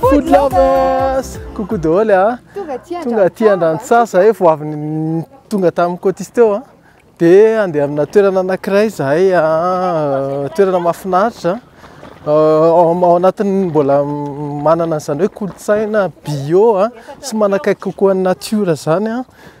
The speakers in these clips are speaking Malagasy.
Food lovers! Coucou daholo a! Ah. Tonga aty Tonga aty Andrantsasa zahay vao avy tonga tamin'ny Cotis teo a. Ah. Dia andeha amina toerana anankiray zahay a ah, toerana mahafinaritra. Euh, ao anatin'ny mbola manana an'izany hoe kolontsaina bio a sy manakaiky kokoa ny natiora zany a.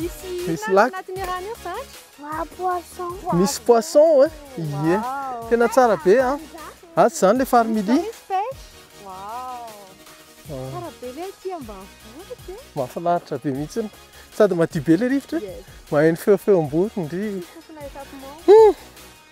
Misy Misy lac. anatin'ny rano io zatra. Wa poisson. Misy poisson e. Ie. Wow. Tena tsara be a. A tsy zany le farmily. Misy pêche. Wow. Ah, Tsara be le aty ambanivohitra e. Mahafinaritra be mihitsy. Sady madio be le rivotra. e. Yes. Maheno feofeom-bory ndry. Sisa f'ilay tapement.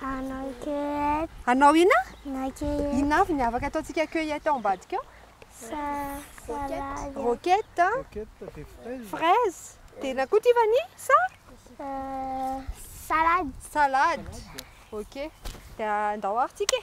Hanao cueillette. Hanao ina? Hanao cueillette. Ina avy ny avaka ataontsika cueillette ao ambadika ao? Sa salade. Roquette. Roquette dia fraise. Fraise. Dia ina koa ity vani? Sa? Euh, salade. Salade. Ok. Dia andao ary tsika e.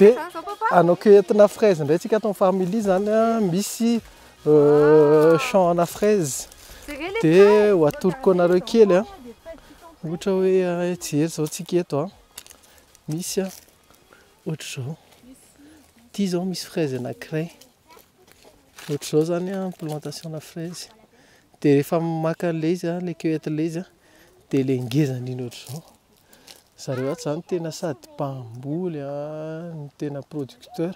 Dia hanao cueilletena fraise indray tsika ato amin'ny family izany an, misy champ ana fraise dia ho atoroko anareo kely an, ohatra hoe hijery izao tsika eto an, misy an ohatr'izao, ity izao misy fraise anankiray, ohatr'izao izany an ny plantation ana fraise, dia rehefa maka an'ilay izy an, ilay cueillette ilay izy an, dia ilay ngeza indrindra ohatr'izao. zareo ato izany tena sady mpamboly no tena producteur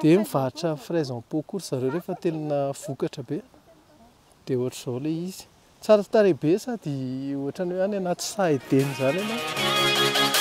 dia mivarotra fraise en pot koa ry zareo rehefa tena vokatra be dia ohatr'izao ilay izy tsara tarehy be sady ohatran'ny hoe any anaty saha edena izany ianao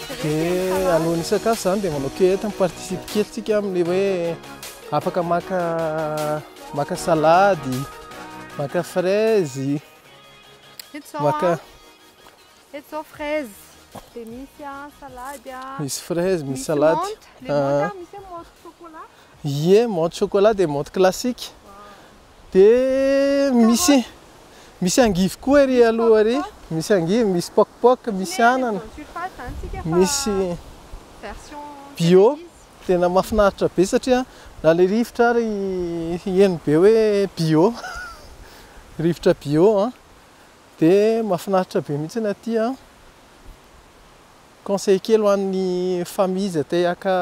Dia alohan'ny hisakafo izany dia manao cueillette, mi-participe kely tsika amin'ny hoe afaka maka maka salady, maka fraise, maka Eto izao fraise, dia misy salady, misy fraise, misy salady, misy menthe, misy hoe menthe chocolat, ie menthe chocolat dia menthe classique, Dia misy misy angivy koa ery aloha ery, misy angivy, misy poc poc, misy anana, misy bio, tena mahafinaritra be satria na le rivotra ary heno be hoe bio, rivotra bio an, dia mahafinaritra be mihitsy aty an. Conseil kely ho an'ny famille izay te haka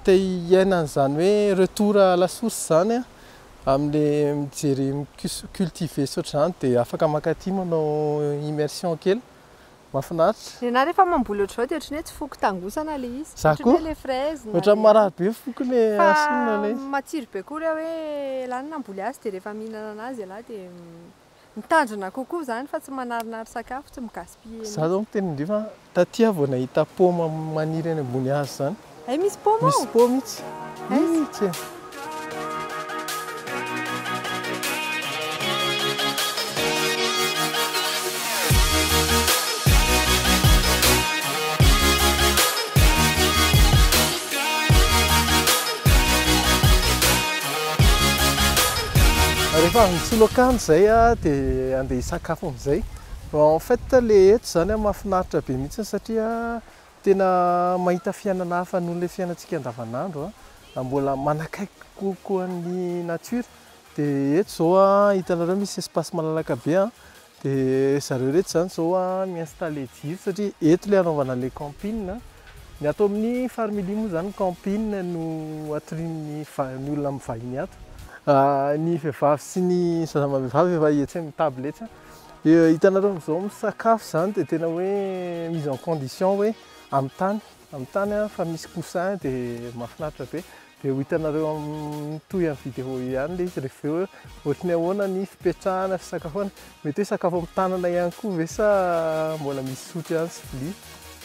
te hiaina an'izany hoe retour à la source izany an, amin'ilay mijery micus- micultiver sy ohatr'izany dia afaka mankaty manao immersion kely, mahafinaritra. Ny anah rehefa mamboly ohatr'izao dia ohatran'ny hoe tsy foko tangosana ilay izy, Za ohatran'ny koa. hoe ilay fraise na Ohatran'ny ilay marary be foko le fa asina le izy. matsiro be koa ilay hoe ialahy no namboly azy dia rehefa mihinana an'azy ialahy dia Ny tanjona kokoa izany fa tsy manarinary sakafo, tsy mi-gaspiller mihitsy. Za zao miteny indreo fa taty aho vao nahita paoma maniry any ambony hazo zany. Hay misy paoma ao? Misy paoma mihitsy. Hay tsy. Rehefa avy misolo akanjo izay dia andeha hisakafo amin'izay. En fait ilay eto izany mahafinaritra be mihitsy satria tena mahita fiainana hafa noho ilay fiainantsika andavanandro, mbola manakaiky kokoa ny natiora. Dia eto izao hitanareo misy espace malalaka be Dia zareo ireto izany izao mi-installer jiro satria eto ilay hanaovana ilay camping. Ny ato amin'ny Farmily moa izany ny camping no atorian'ny va- ny olona mivahiny ato. Ny vehivavy sy ny zaza amam-behivavy efa etsy amin'ny table etsy. Dia hitanareo amin'izao misakafo izany dia tena hoe mise en condition hoe amin'ny tany, amin'ny tany fa misy coussin dia mahafinaritra be. Dia ho hitanareo amin'ny toy an'ny vidéo io ihany ilay izy rehefa avy eo hoe ohatry ny ahoana ny fipetrahana, fisakafoana. Mety hoe sakafo amin'ny tanana ihany koa ve sa mbola misy sotro ihany sy vilia?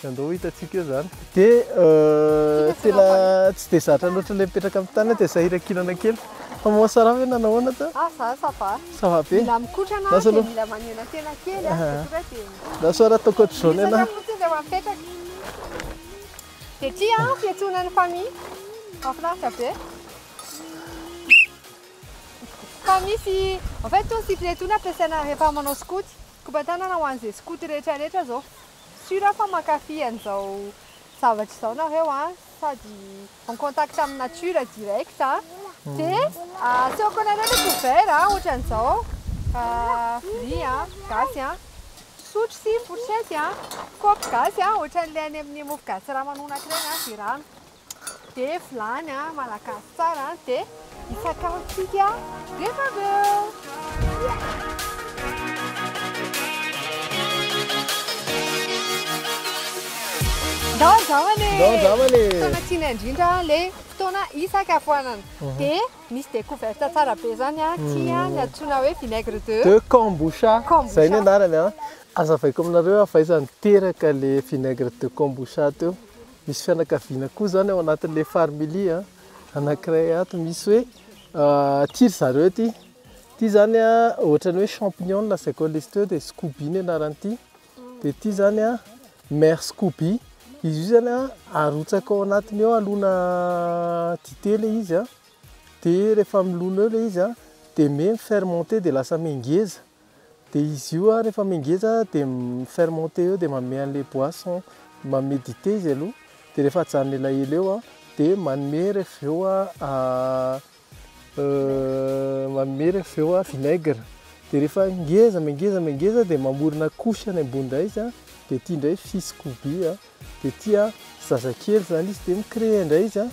Dia andao ho hitantsika eo izany. Dia tena tsy dia zatra loatra ilay mipetraka amin'ny tanana dia sahirankirana kely. Fa moa ça va ve na nahoana teo? Ah za ça va. Ça va be? Mila mikotrana aho dia mila manena tena kely aho. Dia tonga dia. Lasa raha ataoko ohatr'izao ny anà. Miezaka fotsiny rehefa mipetraka. Dia ity an, fiantsoana ny Fami. Mahafinaritra be. Fa misy, en fait itony siple itony ampiasaina rehefa manao skoto. Koban-tanana ho an'izay skoto rehetra rehetra izao. Sûr aho fa mankafy an'izao zavatra izao nareo an, sady en contact amin'ny nature direct an. Dia asehoko anareo ilay cover an, ohatran'izao, free an, gasy an. Sotro sy fourchette a, kaopy gasy a, ohatran'ilay any amin'ny mofo gasy Ramanonaka ireny a, dia rano, dia vilany a, malagasy tsara a, dia hisakafotsika rehefa avy eo. Ndao andramana e! Ndao andramana e! Fotoana tiana indrindra ilay fotoana hisakafoanana. Dia. Misy découverte tsara be zany a, tia ny antsoina hoe vinaigre de. De kombucha, zay ny anarany a. Azavaiko aminareo hoe avaiza niteraka le vinaigre de kombucha teo. Misy fianakaviana koa zany ao anatin'le farmily a, anankiray ato misy hoe ty ry zareo ty, ty zany a ohatran'ny hoe champignons zay koa le izy teo de scoby ny anaran'ity. Dia ity izany an, Mère Scooby, izy io izany an, arotsaka ao anatiny ao alona dite ilay izy an, dia rehefa milona eo ilay izy an, dia mi fermenter dia lasa mengeza, dia izy io an rehefa mengeza dia mi fermenter eo dia manome an'ilay boisson, manome dite izy aloha, dia rehefa ajanony elaela eo an, dia manome avy eo an. Manome iray avy eo vinaigre dia rehefa ngeza me ngeza me ngeza dia mamorona couche any ambony indray izy dia ity indray fils koby dia ity zazakely izany izy dia mi-crée indray izy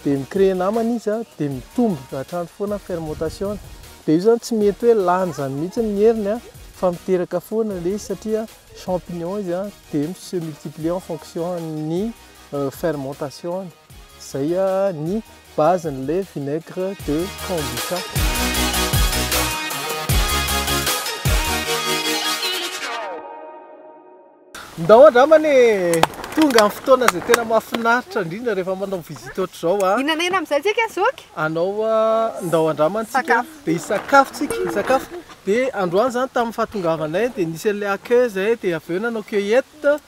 dia mi-crée namany izy dia mitombo hatrany foana ny fermentation dia io izany tsy mety hoe lany izany mihintsy ny heriny fa miteraka foana ilay izy satria champignon izy dia mi-se multiplier en fonction ny fermentation-ny izay ny Base ny lait vinaigre de kombucha. Ndao angambany e! Tonga ny fotoana izay tena mahafinaritra indrindra rehefa manao visite ohatr'izao a! Inona inona amin'izay tsika zoky? Anao a, ndao andrama antsika Sakafo. dia hisakafo tsika, hisakafo dia androany izany tamin'ny fahatongavanay dia nisy an'ilay accueil izay dia avy eo nanao cueillette,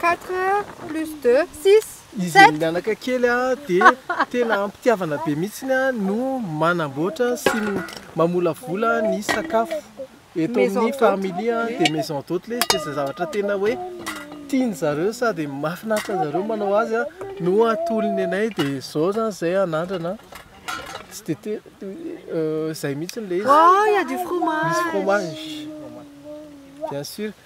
Quatre plus deux, six, sept. Izy amin'ny anaka kely dia tena am-pitiavana be mihitsy no manamboatra sy mamolavola ny sakafo eto amin'ny family dia maison d'hôte ilay izy dia izay zavatra tena hoe tian-dry zareo sady mahafinaritra an'dry zareo manao azy no atolony anay dia izao izany izay anandrana tsy dia te- izay mihitsy ilay izy, misy fromage bien sur.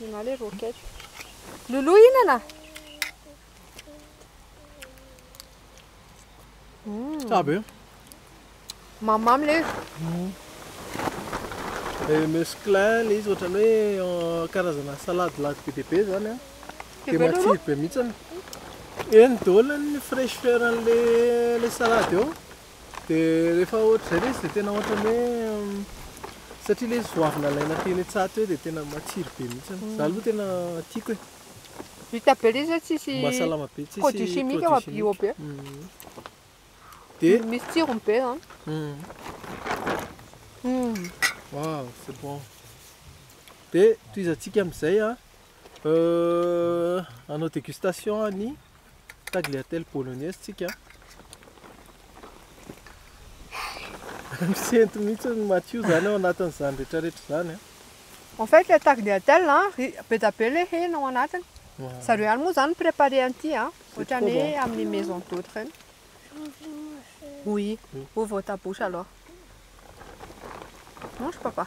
Ianao ilay roquette. Loulou hihinana? Tsara be. Mamimamy ilay izy. Ilay musclin ilay izy ohatran'ny hoe karazana salade lady be dia be izany an. Dia matsiro be mihitsy. Eny daholo ny fraîcheur an'ilay salade eo. Dia rehefa ohatr'izay ilay izy dia tena ohatran'ny hoe, satria ilay izy vao avy nalaina teny an-tsaha teo dia tena matsiro be mihitsy. Izaho aloha tena tiako e. Vita be ilay izy hoe tsisy produit chimique fa bio be. Dia misy tsirony be izany. Waouh, c'est bon. Dia tohizantsika amin'izay an. Hanao dégustation an'ny tagliatelle bolognaise tsika. Misento mihitsy ny Mathieu zany ao anatin'izany rehetra rehetra izany. En fait, le tagliatelle, be dia be le hena ao anatiny. Zareo ihany moa zany préparé an'ity a, ohatran'ny hoe amin'ny maison d'hôte reny. Oui, ouvre ta bouche alors. Mange papa.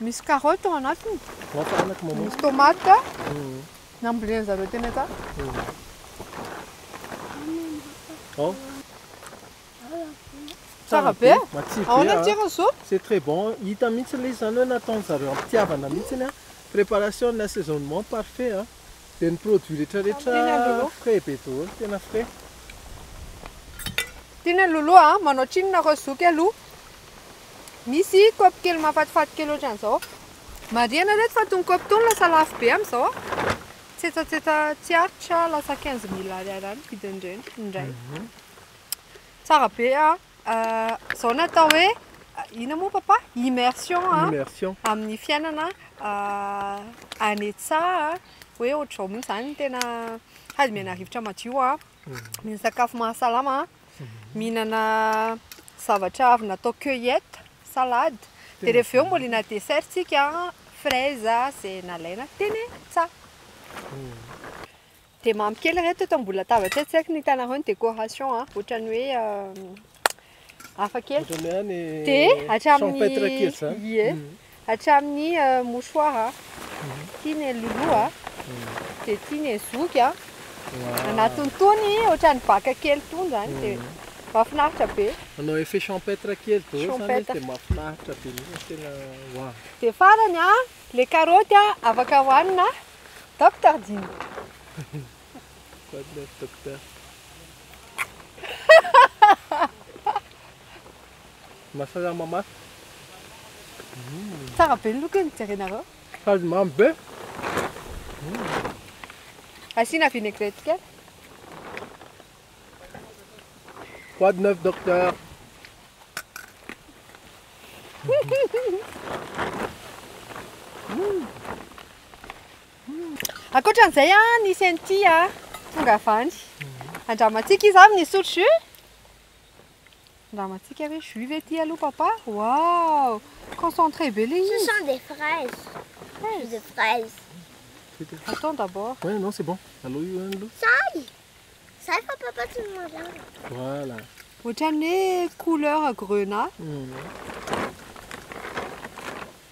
Misy carotte ao anatiny. Misy tomate nambolena zareo teny ata. Tsara be. Ahoana ny tsirony zo? C'est très bon. Hita mihitsy ilay izy izany hoe nataon-dry zareo am-pitiavana mihitsy an. Préparation et assaisonnement parfait an. Dia ny produits rehetrarehetra frais be daholo, tena frais. Tian'i Lolo a! Manao tsinona nareo zoky aloha. Misy kaopy kely mahafatifaty kely ohatran'izao. Marihana reto fa tony kaopy tony lasa lafo be amin'izao a! Tsetsatsetsa tsy aritra lasa quinze mille ariary any ny vidin'ireny ny iray. Tsara be a! Izao no atao hoe inona moa papa? Immersion a! Immersion. Amin'ny fiainana any an-tsaha hoe ohatr'izao mihitsy izany ny tena hadimiana rivotra madio a! Ny sakafo mahasalama, mihinana zavatra avy natao cueillette, salade, dia rehefa avy eo mbolina dessert tsika, fraise izay nalaina teny an-tsaha. Dia mamy kely ireto eto ambony latabatra eto, tsy haiko ny hitanareo ny décoration an, ohatran'ny hoe Hafa kely. Ohatran'ny hoe any Dia hatramin'ny champêtre kely izany. Ie. Mhm. Hatramin'ny eh, mouchoir a. Ity ny lulu a. Dia ity ny zoky a. Anatiny tony ohatran'ny baka kely tony izany dia mahafinaritra be. Manao effet champêtre kely daholo izany izy Champêtre. dia mahafinaritra be mihitsy fa tena waouh. Dia farany a, ilay karaoty a, afaka hohanina a, Doctor Dina. God love Docteur. Mahasalama mafy. Tsara be ny lokony, jerenareo. Sady mamy be. Asiana vinaigrette kely. God love Docteur. Ankoatra an'izay an, nisy an'ity an, tonga avy any. Andramantsika izy avy nisotro jus. Andramantsika ve jus ve ity aloha papa? Wow! Concentré be ilay Ce izy. sont des fraises. Jus de fraise. Attends d'abord. Ouais, non, c'est bon. Alao io any aloha. Sahy! Sahy fa papa tsy ny mazava. Voilà. Ohatran'ny hoe couleur grenat. Hum.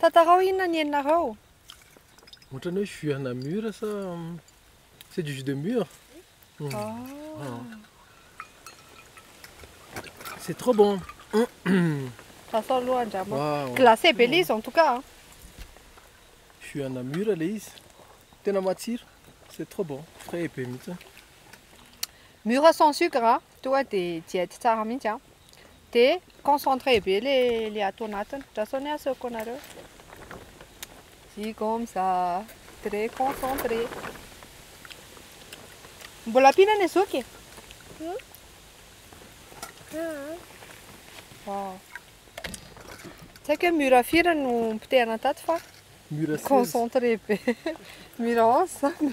Tantarao inona ny eninareo? Ohatran'ny hoe jus ana mur sa c'est du jus de mur. C'est trop bon. Sasao aloha andramo. Wow. Glacé be ilay izy en tout cas. hein. Jus ana mur le izy. Tena matsiro. C'est trop bon. Frais be mihitsy. Mur sans sucre. hein. Tonga de diety tsara mihitsy an! De concentré be le le ato anatiny! Ndra sao ny ahy asehoko anareo! Jigonza très concentré! Mbola ampiana ny zoky e! Waouh! Tsy haiko hoe mur firy no nipotehana tato fa Mur seize. concentré be! Mur onze zany!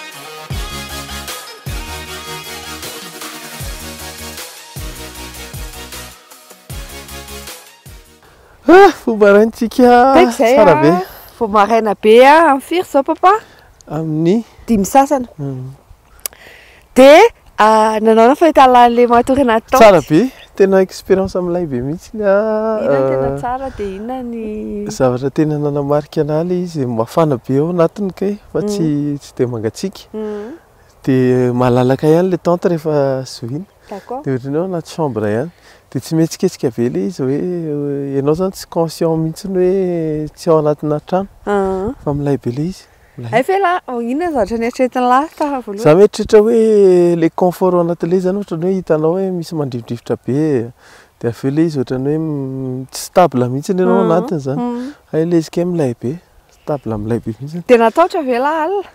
Fo maraintsika tsara be. Vao maraina be amin'ny firy izao papa? Amin'ny dimy sasany. Dia Ah, nanao na fahitalalana le matory natao. Tsara be, tena expérience am lay be mihitsy ny ah. Inona tena euh, tsara dia inona ny zavatra tena nanamarika anah le izy mafana be ao anatiny kay fa tsy mm. tsy dia mangatsiaka. Mm. Dia malalaka ihany le tente rehefa zohina. D'accord. Dia ohatran'ny hoe anaty chambre ihany. Dia tsy mihetsiketsika be le izy hoe ianao zany tsy conscient mihitsy hoe tsy ao anatina trano. Ah. Fa milay be le izy. Hay ve lah, inona ny zavatra neritreretin'i lah tamin'ny voalohany? Za mieritreritra hoe le confort ao anatin'ny le izy zany ohatran'ny hoe hitanao hoe misy mandrifodrifotra be dia avy eo le izy ohatran'ny hoe m- tsy stable mihitsy ianao ao anatiny zany. Hay le izy kay milay be, stable milay be mihitsy. Dia natahotra ve lah alina?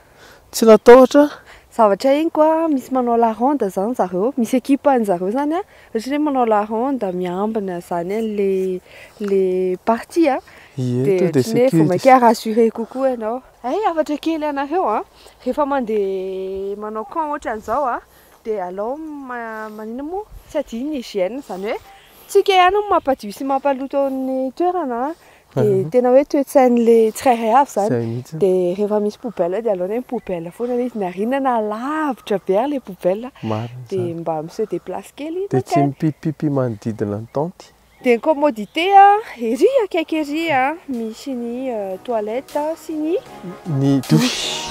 Tsy natahotra. Zavatra henoko a, misy manao la ronde zany zareo, misy equipe an'zareo zany a, Ohatran'ny hoe manao la ronde miambina izany ilay ilay partie a, Ie, dia tonga dia ohatran'ny hoe vao mainka sécurise. rassurer kokoa ianao. Hay hafatra kely anareo a, rehefa mandeha manao camp ohatran'izao a, dia alao ma- maninona moa, tsy adino ny hygiène, izany hoe tsika ihany no mampadio sy mampaloto ny toerana a, Dia tena hoe toe-tsain'le tsirairay avy zany. Zay mihitsy. Dia rehefa misy poubelle dia aleony hoe poubelle foana le izy na r'inona na lavitra be ary le poubelle Marina dia izany. mba mi-se déplace kely Dia tsy mankany. mipipipipy manodidina ny tente. Dia ny commodité a, ery akaiky ery a misy ny toilette sy ny Ny douche.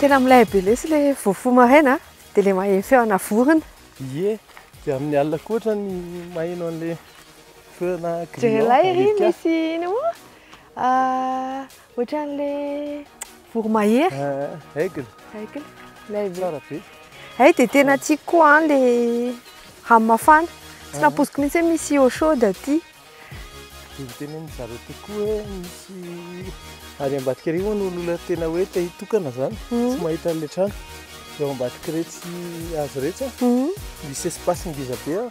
Tena milay be lesy le vao foha maraina dia le maheno feona vorona. Ie, dia amin'ny alina koa ohatra ny maheno an'le feona grillon. Jereo ilay ry misy ino moa? Ah, Ohatran'le voromahery. Eh, aigle. Aigle. Lay Tsara be. Ay dia tena tiako koa an le rano mafana. Tsy nampoiziko mihitsy hoe misy eau chaude aty. Dia miteny amin'ny zareo tokoa hoe misy ary ambadika ery hono ny olona tena hoe te hitokana zany. Mhm. Tsy mahita an'le trano. Eo ambadika iretsy hazo iretsy an. Mhm. Misy espace ngeza be an.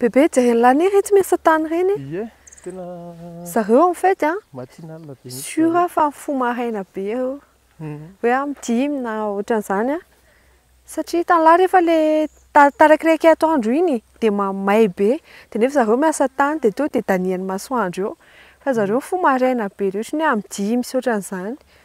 Bebe jereo ny lahy iretsy miasa tany ireny e! Ie tena Zareo en fait an, matinal be mihitsy sûr zareo. fa mifoha maraina be eo, hoe amin'ny dimy na ohatran'izany an, satria hitan'ny lahy rehefa ilay tarak'ilay kay atoandro iny dia ma- may be, dia nefa zareo miasa tany dia tonga dia danian'ny masoandro eo, fa zareo mifoha maraina be loatra, ny hoe amin'ny dimy sy ohatran'izany.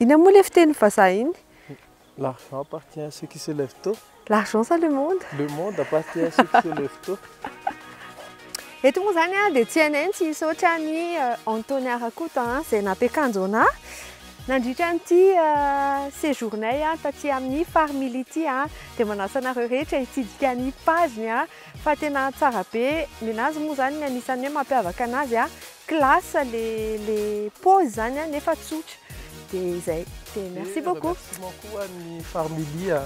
Inona moa ilay fiteny vazaha iny? L'argent appartient à ceux qui se lèvent tôt. L'argent sa le monde? Le monde appartient à ceux qui se lèvent tôt. Eto moa izany dia tsy anay ny tsy hisaotra an'i Antony Arakoto izay nampiakanjo anà nandritra an'ity séjour-nay taty amin'ny Farmily ity. Dia manasa anareo rehetra hitsidika ny page-ny. Fa tena tsara be ninazy moa zany ny anisany hoe mampiavaka anazy a classe le le pose zany a nefa tsotra de zay de merci beaucoup. Dia remerciement koa ny farmily a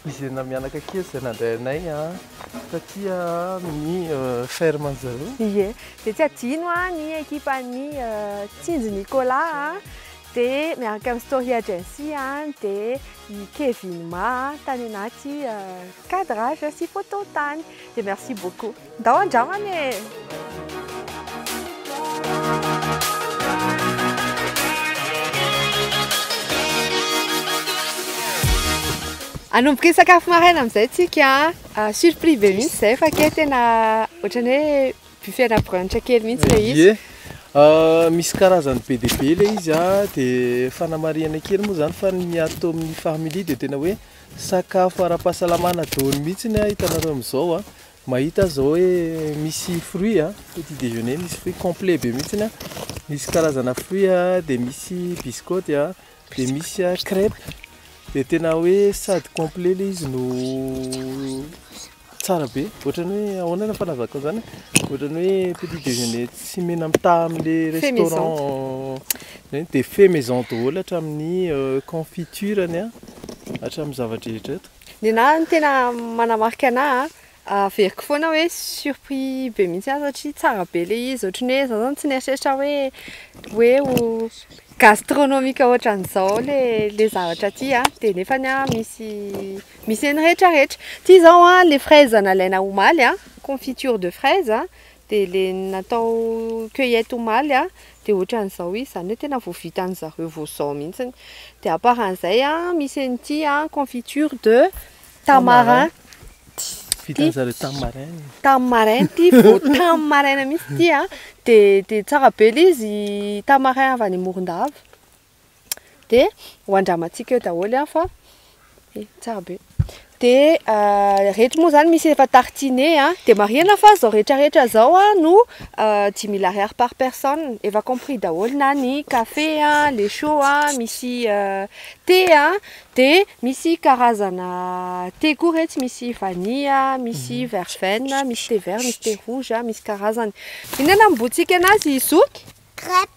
izay namianaka kely izay nandray anay a taty a amin'ny ferme an'i zareo. Ie dia tsy adino a ny ekipan'ny tsinjo Nicolas a dia miaraka amin'ny story agency a dia i Kevin ma tany anaty Cadrage sy photo tany dia merci beaucoup. Ndao andramana e! Anomboka hisakafo maraina amin'izay tsika a! Surpris be mihitsy izay fa kay tena ohatran'ny hoe buffet ana brunch kely mihitsy ilay izy. Ie, misy karazany be dia be ilay izy a, dia fanamarihana kely moa izany fa ny ato amin'ny Farmily dia tena hoe. Sakafo ara-pahasalamana daholo mihitsy a, hitanareo amin'izao a, mahita aza hoe misy fruit a, petit déjeuner misy fruit complet be mihitsy a, misy karazana fruit a, dia misy bisikôty a, dia misy crèpe, dia tena hoe sady complet ilay izy no Tsara be, ohatrany hoe ahoana ny fanazavako an'izany e, ohatrany hoe petit déjeuner tsy mena mitaha amin'ilay restaurant, izay dia fait maison daholo hatramin'ny confiture-ny a, hatramin'ny zava-drehetra eto. Ny anahy no tena manamarika anahy a, averiko foana hoe surpris be mihitsy aho satria tsara be ilay izy, ohatrany hoe izaho izany tsy nieritreritra hoe hoe ho gastronomique ohatran'izao ilay ilay zavatra aty a, dia nefany an misy Misy ny rehetra rehetra. Ity zao an, le fraise nalaina omaly an, confiture de fraise an, dia le natao cueillette omaly an, dia ohatran'izao izy, izany hoe tena vao vitan'ny zareo vao izao mihintsy. Dia à part an'izay an, misy an'ity an, confiture de tamarin, vitan'ny zareo tamin'ny maraina, tamin'ny maraina ity, vao tamin'ny maraina mihintsy ity an, dia tsara be ilay izy, tamarin avy any Morondava. dia ho andramantsika eo daholo an fa eh, tsara be dia uh, rehetra moa zany misy efa tartine a dia marihana fa zao rehetra rehetra zao a no uh, dix mille ariary par personne efa compris daholo na ny café a le chaud a misy uh, thé a dia misy karazana thé koa retsy misy vanille misy mhm. verveine misy thé vert misy thé rouge misy karazany inona nambotsika anazy zoky crêpe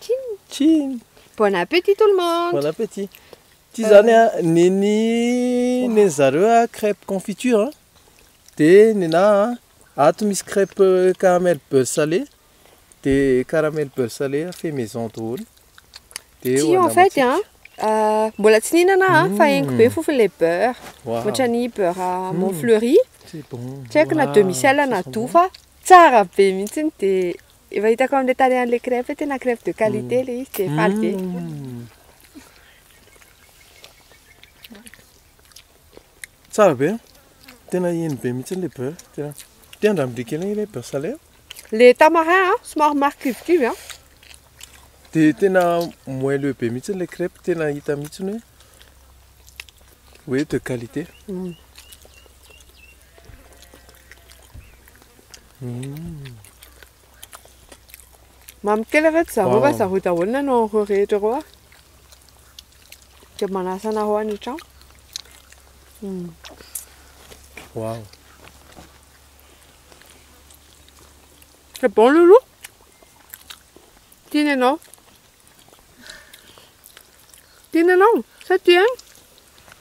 Tchin Tchin Bon appétit tout le monde Bon appétit Ity zany a, neny neny zareo a crêpe confiture a, dia nenaha a, ato misy crêpe caramel beurre salé, dia caramel beurre salé a fait maison daholo. Ity en fait a, mbola tsy nihinana aho a, fa henoko be ny fofony ilay beurre, ohatran'ny beurre mont fleury, tsy haiko na demi sel na doux fa Tsara be mihitsy dia efa hitako amin'ilay tarehan'ilay crêpe hoe tena crêpe de qualité ilay izy dia faly be. Tsara be. Tena iny be mihitsy ilay beurre. Tena tia an-dRamdry kely ilay beurre salé. Ilay tamarin a, somary marikivokivy a. Dia tena moelleux be mihitsy ilay crêpe, tena hita mihitsy hoe. Hoe de qualité. Mamy kely ve zareo va zareo daholo nanao an'ireo rehetra ireo ah? Dia manasa anareo any an-trano. Hmm. Wow. C'est bon loulou Tiens, non Tiana ianao? Sa tia an?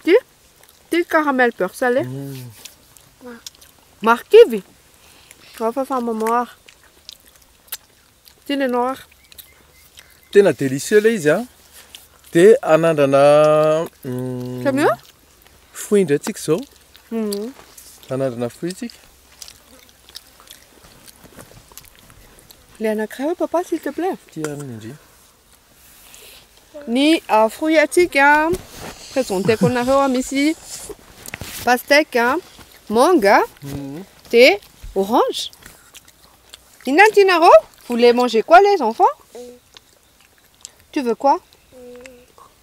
Tia? Tia ny caramel beurre salé? Marikivy? Ao fa fa maman ary. Tiana ianao ary. Tena délicieux ilay izy an. Dia anandrana Samy eo? fruit indray tsika izao. Anandrana fruit tsika. Le anankiray hoe papa s'il te plaît. Ity ary ny ndry. Ny ah, fruit atsika présenteko anareo ah, misy pastèque, ah, manga, mhm. de orange. Inona ny tianareo? Vous voulez manger quoi les enfants? Tu veux quoi?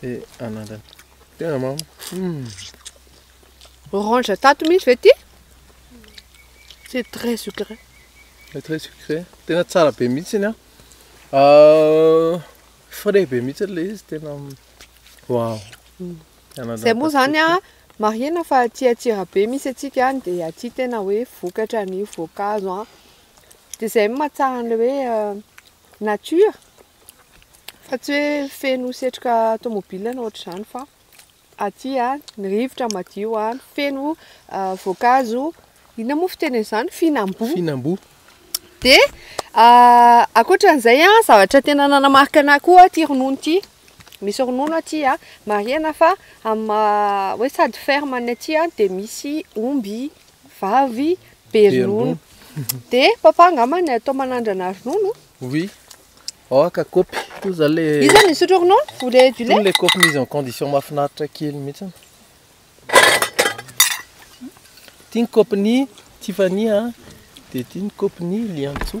Dia anandrana. Tena mamy. Hmm. Orange tato mihitsy ve ty? C'est très sucré. C'est très sucré. Tena tsara be mihitsy ny ah. Frais be mihitsy ilay izy tena wow. Hmm. Zay moa zany a marihina fa aty Antsirabe misy atsika any dia aty tena hoe vokatra ny voankazo a. Dia zay mahatsara an'ilay hoe euh, nature fa tsy hoe feno setroka tomobile na ohatr'izany fa aty a ny rivotra madio a feno voankazo inona moa fiteny an'izany fihinam-boa fihinam-boa dia ankoatran'izay a zavatra tena nanamarika anah koa aty ronono ity misy ronono aty a marihana fa amin'ny maha hoe sady ferme ny aty a dia misy omby vavy be ronono de papa angamba ny atao manandrana ronono oui oh ka kopy io zany le io zany misotro ronono ou le du lait le kopy mise en condition mahafinaritra kely mihitsy ty ny kopy ny tiffany a de ty ny kopy ny liantsoa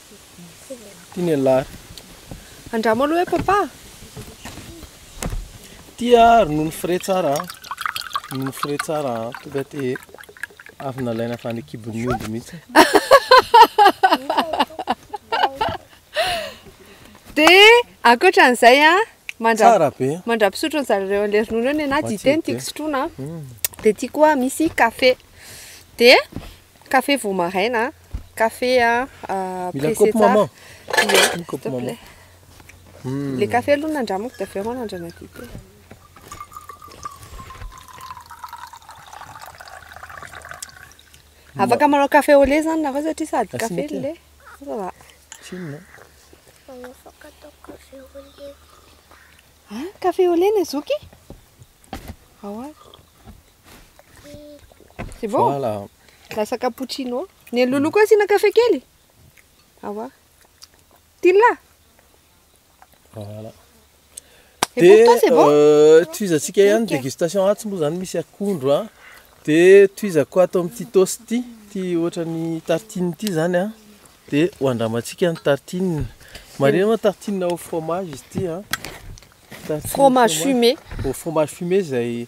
Ity ny alary. Andramo aloha hoe papa. Ity ah, ronono frais tsara ah. Ronono frais tsara ah. Tonga te avy nalaina avy any kibon'ny omby mihitsy. Dia ankoatra an'izay ah, mandra Tsara be. mandra-pisotro ny zareo an'ilay ronono eo ny anahy, dite no Matsiro be. tiako sotroina. Dia ity koa misy kafe. Dia Café vao maraina a. Café a pressé tsara. Mila kopy maman. Le café aloha nandramako dia avy eo manandrana dite. Afaka manao café au lait zany nareo satria sady café no lait. Ça va. Tsinona. Afaka atao café au lait. An, café au lait ny zoky? Ahoana? C'est bon Voilà. Lasa cappuccino. Ny an'i Loulou koa asiana kafe kely. Awa. Tilla. Voilà. Et pour toi, c'est bon euh, tohizantsika ihany Ok. dégustation atsy moa zany misy akondro a. Dia tohizako ato amin'ity toast ity, ity ohatran'ny tartine ity zany a. Dia ho andramantsika ny tartine. Marihina moa tartine au fromage izy ity a. Tartine au Fromage fumé. au fromage fumé izay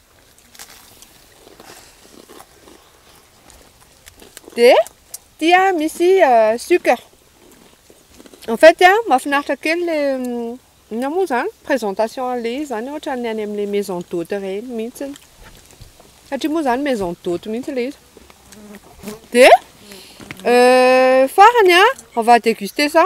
dia tia misy euh, sucre en fait a mahafinaritra kely le mm, ina moa zany présentation an'le izy zany ohatra ny any amin'le maison d'hôte ireny mihitsy satria moa zany maison d'hôte mihitsy le izy dia euh, farany a on va déguster ça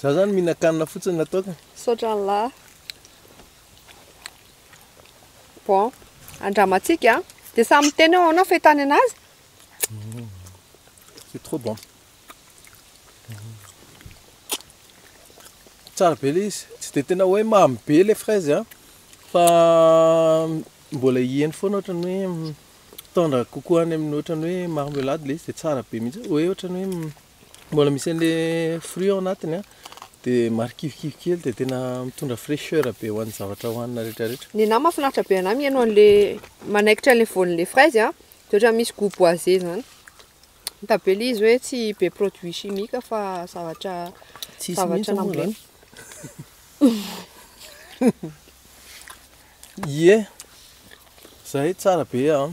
Za zany mihinan-kanina fotsiny raha toa ka. Misaotra an'lah. Bon, andramantsika an. Dia samy miteny eo ahoana fahitany anazy. C'est trop bon. Tsara be ilay izy. Tsy dia tena hoe mamy be ilay fraise an, fa mbola hiheno foana ohatran'ny hoe tendre kokoa any amin'ny ohatran'ny hoe marmelade ilay izy dia tsara be mihitsy. Hoe ohatran'ny hoe. Mbola misy an'le fruit ao anatiny a, dia marikivikivy kely dia tena mitondra fraicheur be ho an'ny zavatra hohanina rehetra rehetra. Nenahy mahafinaritra be anahy mihaino an'le manaikitra an'le voan'le fraise a, dia ohatran'ny misy goût boisé zany. Hita be le izy hoe tsy be produit chimique fa zavatra Tsisy zavatra mihitsy moa nambolena. Ie, zay tsara be an.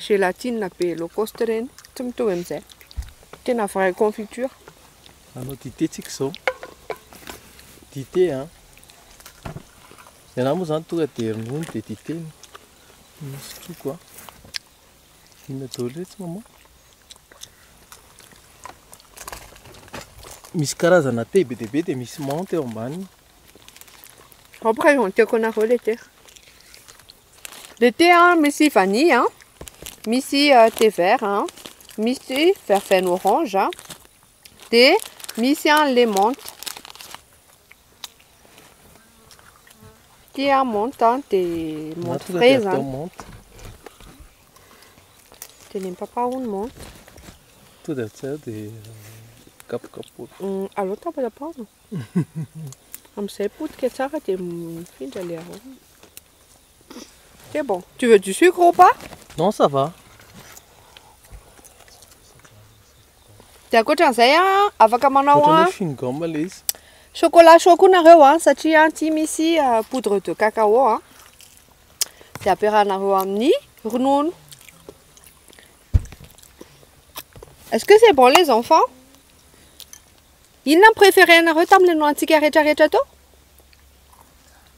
Gelatine be low cost ireny, tsy mitovy amin'izay. Tena vraie confiture. Hanao dite tsika izao. Dite an. Ny anahy moa izany tonga dia ronono dia dite no nosotroiko an. Inona daholo iretsy mama? Misy karazana thé be dia be dia misy menthe eo ambaniny. Hop raha eo an-tiako anareo ilay thé. Le thé a, misy vanille a, misy thé vert a, misy verveine orange a, dia misy a le menthe. Ity a menthe a, dia menthe frais zany. Dia ny papa hono menthe. Tonga dia avy dia kapokapoka. Mm, allo tapa tapa. Amin'izay potika tsara dia mifindra le arôma. C'est bon. Tu veux du sucre ou pas Non, ça va. Dia ankoatran'izay a, afaka manao a. Ohatran'ny chewing gum ilay izy. Chocolat chaud koa nareo a, satria aty misy poudre de cacao a. Dia ampiarahanareo amin'ny ronono. Est-ce que c'est bon les enfants Inona no préféré anareo tamin'ilay nohanintsika rehetrarehetra teo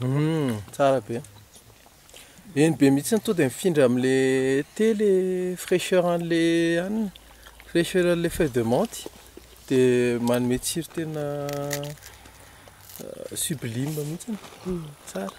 Hum, tsara be. Eny be mihitsy to dia mifindra amin'le thé le fraîcheur an'le hanina, fraîcheur an'le feuille de menthe dia manome tsiro tena sublime mihitsy, tsara.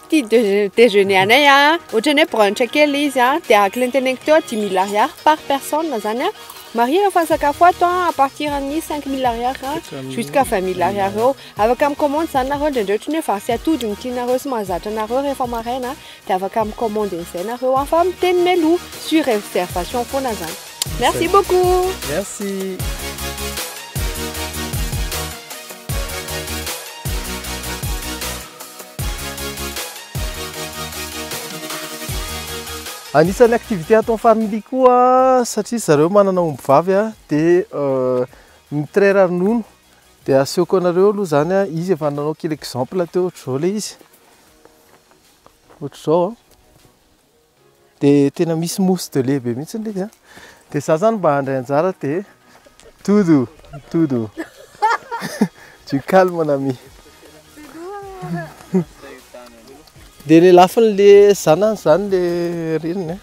Ity dejeuner anay a, ohatran'ny hoe brunch kely izy a, dia ahakilenteneniko teo dimy mille ariary par personne izany a, marihina fa ny sakafo ato a, à partir amin'ny cinq mille ariary a, jusqu'à vingt mille ariary eo, afaka mi-commande izany nareo indraindray ohatran'ny hoe vary sy atody no tianareo sy mahazatra anareo rehefa maraina a, dia afaka mi-commande an'izay nareo a, fa miteny mialoha, sur réservation foana izany. Merci beaucoup. Merci. Anisan'ny activité ataon'ny famille koa satria zareo manana omby vavy a dia euh, ny trait ranono dia asehoko anareo aloha zany a izy efa nanao kely exemple teo ohatr'izao le izy ohatr'izao a Dia tena misy mousse de lait be mihitsy ilay izy an. Dia izaho izany mba handray anjara dia todo, todo. Du calme mon ami. Dia ilay lafin'ilay zanany izany ilay reniny an.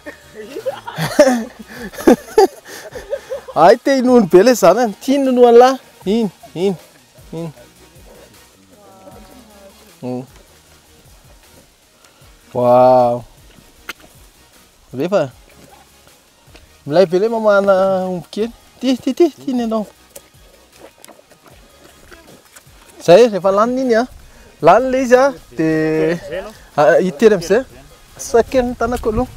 Hay te hinono be ilay zanany, tia hinono an'lah, iny, iny, iny. Waouh Rehefa Milay be le mamana omby kely Ty, ty, ty, ty ny anao Zay, rehefa laniny iny an Lany le izy an Dia Hitery amizay Sakeniny tanako aloha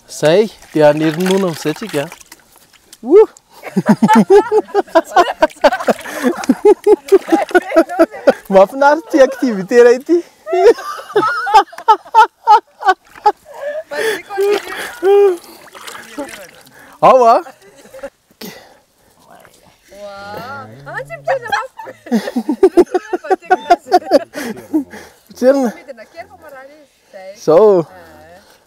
Zay, dia hanery nono amizay tsika Mahafinaritra ity activité iray ity. Ao ah. Miverina. Zao.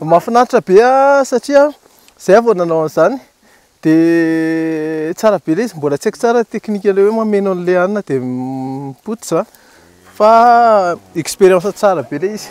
Mahafinaritra be ah, satria zay vao nanao an'izany dia tsara be ilay izy, mbola tsy haiko tsara ny technique ilay hoe mameno an'ilay hanina dia mipototra fa expérience tsara be ilay izy.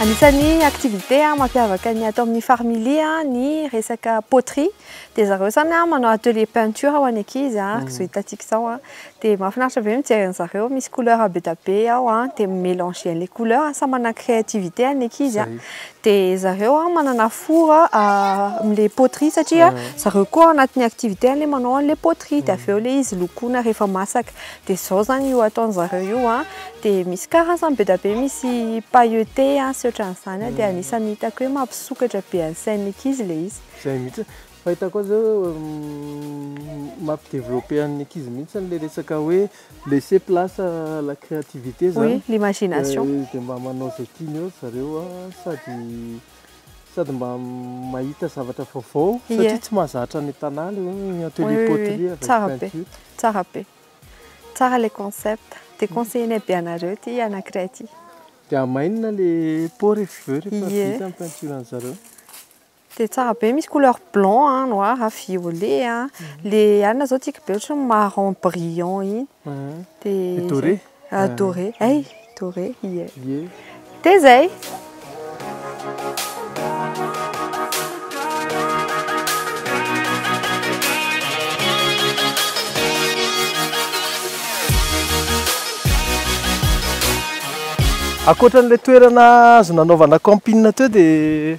Anisan'ny activité mampiavaka ny ato amin'ny Farmily ny resaka poterie. Dia zareo izany manao atelier peinture ho an'ny ankizy, araka izao hitantsika izao. Dia mahafinaritra be mijery an'zareo, misy couleur be dia be ao an, dia mi-melanger les couleurs, samy manana ny créativité-ny ny ankizy an, dia zareo an manana four amin'ilay poterie satria zareo koa anatin'ny activité-ny ilay manao an'ilay poterie, dia avy eo ilay izy lokoina rehefa masaka, dia izao izany io ataon'zareo io an, dia misy karazany be dia be, misy pailleté sy ohatran'izany an, dia anisan'ny hitako hoe mampisokatra be ny sain'ny ankizy ilay izy. Izay mihitsy. Fahitako azy zao mampi developper an'ny ankizy mihintsy ilay resaka hoe laisser place à la créativité zany. Oui, l'imagination. Dia mba manao izay tiany eo ry zareo sady sady mba mahita zavatra vaovao satria tsy mahazatra any an-tanà ilay hoe atelier poterie avec peinture. Tsara be. Tsara ilay concept. Dia conseiller-nay be anareo ity anankiray ity. Dia hamainina ilay pot rehefa vita ny peinture an'i zareo. Dia tsara be misy couleur blanc a, noir a, violet a. Ilay alina izao tiako be ohatran'ny marron brillant iny. Dia doré. Doré. Hay, doré. Ie. Dia izay. Ankoatra an'ilay toerana azo nanaovana camping teo dia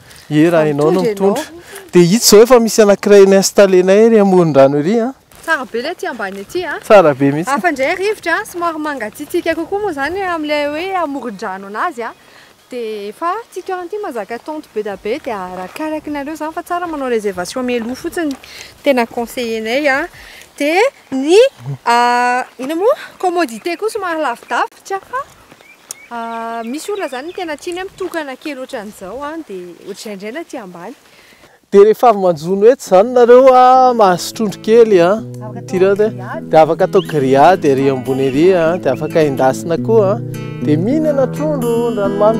Ye raha ianao no mitondra. Dia hita izao efa misy anankiray ni-installenay ery amoron-drano ery an. Tsara be ilay aty ambany aty an. Tsara be mihitsy. Hafa indray rivotra an, somary mangatsiatsiaka kokoa moa izany amin'ilay hoe amoron-drano an'azy an. Dia efa ity toerana ity mahazaka tente be dia be dia arakaraky nareo izany fa tsara manao réservation mialoha fotsiny, tena conseiller-nay an. Dia ny inona moa, commodité koa somary lavidavitra fa. Misy olona izany ny tena tiany mitokana kely ohatran'izao dia ohatr'indraindray na aty ambany. Dia rehefa avy manjono etsy izany nareo mahazo trondro kely a, tireo dia afaka atao grillade ery ambony ery a, dia afaka endasina koa a, dia mihinana trondro an-dranomamy.